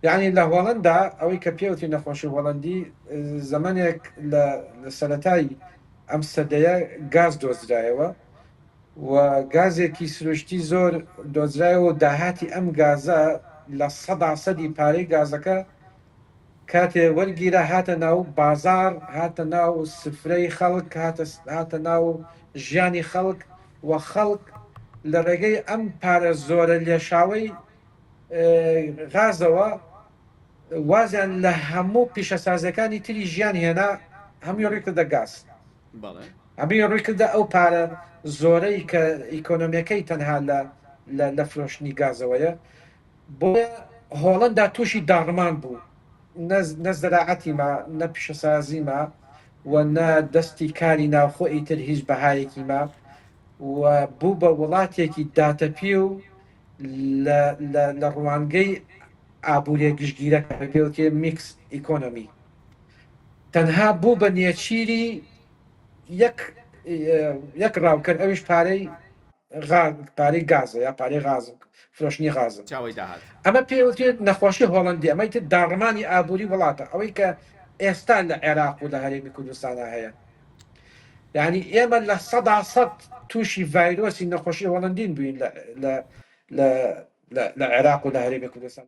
یەعنی لە هۆڵەندا ئەوەی کە پێوتی نەخۆشی هۆڵەندی زەمەنێک لە سەرەتای ئەم سەدەیە گاز دۆزرایەوە و گازێکی سروشتی زۆر دۆزرایەوە و داهاتی ئەم گازە لە سەدا سەدی پارەی گازەکە کاتێ وەرگیرە هاتە ناو بازار هاتە ناو سفرەی خەڵک هاتە ناو ژیانی خەڵک و خەڵک لە ڕێگەی ئەم پارە زۆرە لێشاوی غازەوە وازیان لە هەموو پیشەسازیەکانی تری ژیان هێنا هەمووی ڕیکردە گاز ئەمەی ڕیکردە ئەو پارە زۆرەی کە ئیکۆنۆمیەکەی تەنها لە لە فرۆشتنی گازەوەیە بۆ هۆڵندا تووشی داڕمان بوو نە زەراعەتی ما نە پیشەسازی ما و نە دەستی کاری ناوخۆ ئیتر هیچ بەهایەکی ما و بوو بە وڵاتێکی داتەپی و لە ڕوانگەی ئابووریە گشتگیرەکە پێوتێ میکس ئیکۆنۆمی تەنها بوو بە نێچیری یەک ڕاوکەر ئەوش پارەی پارەی گازە یا پارەی غاز فرۆشنی غازە چاوەی داهات ئەمە پێوتێت نەخۆشی هۆڵندی ئەمەی تر داڕمانی ئابووری وڵاتە ئەوەی کە ئێستا لە عێراق و لە هەرێمی کوردستانە هەیە یانی ئێمە لە سەدا سەد تووشی ڤایرۆسی نەخۆشی هۆڵندین بووین لە عێراق و لە هەرێمی کوردستان